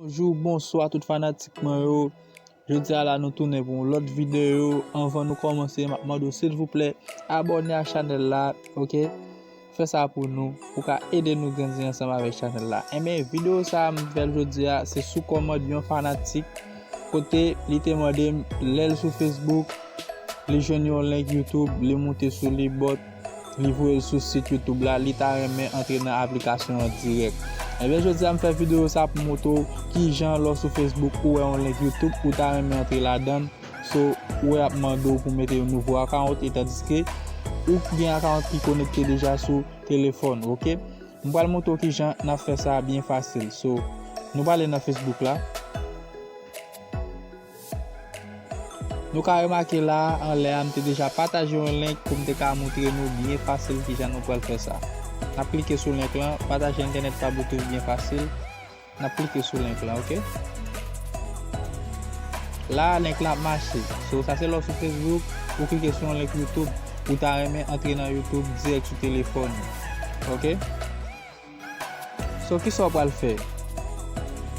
Bonjou bonswa tout fanatik mwen yo Jodi a la nou tounen pou yon lòt videyo Anvan nou kòmanse map mande w silvouplè Abòne a chanèl la ok Fè sa pou nou Pou ka ede nou grandi ansanm avèk chanèl la Enben videyo sa m fèl jodi a se sou kòmand yon fanatik Kote li te mande m lèl sou facebook Li jwenn yon link youtube Li moute sou li bòt Li voye l sou sit youtube la li ta renmen antre nan aplikasyon an dirèk. Ebyen jodi a m fè videyo sa pou m montre w kijan lè w sou Facebook ou wè yon link youtube ou ta renmen antre ladann so ou ap mande w pou w mete yon nouvo akawont etandiske ou gen akawont ki konekte deja sou telefòn ok. M pral montre w kijan n ap fè sa byen fasil so nou prale nan Facebook la. Nou ka remake la a anlè a m te deja pataje yon link pou m te ka moutre nou byen fasil kijan nou pral fè sa. N ap klike sou link lan, pataje entènèt pa bluetooth byen fasil, n ap klike sou link lan ok. La a link lan ap mache, so sa se lè w sou Facebook, ou klike sou yon link youtube, ou ta renmen antre nan youtube dirèk sou telefòn ou ok. So kisa w pral fè?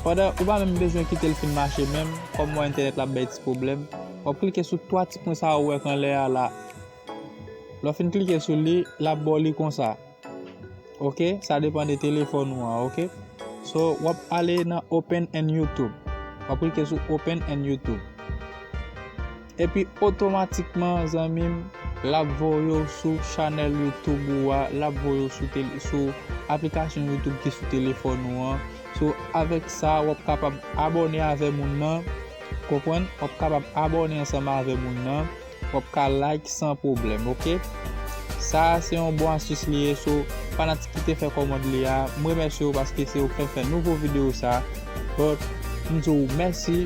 Pandan ou pa menm bezwen kite l fin mache menm, kòm wè entènèt la ap bay ti pwoblèm, w ap klike sou 3 ti pwen sa a ou wè anlè a la. Lè w fin klike sou li, l ap ba w li konsa. Ok, sa depan de telefòn ou an, ok. So, w ap ale nan Open and YouTube. W ap klike sou Open and YouTube. Epi otomatikman zanmim lap voyew sou chanèl YouTube ou a lap voyew sou aplikasyon YouTube ki sou telefòn ou an so avèk sa wap kapab abòne avè moun nan konprann wap kapab abòne ansanm avè moun nan wap ka like san pwoblèm ok sa se yon bon astis li ye so fanatik ki te fè kòmand li a m remèsyew paske se ou ki fèm fè nouvo video sa bon m diw mèsi.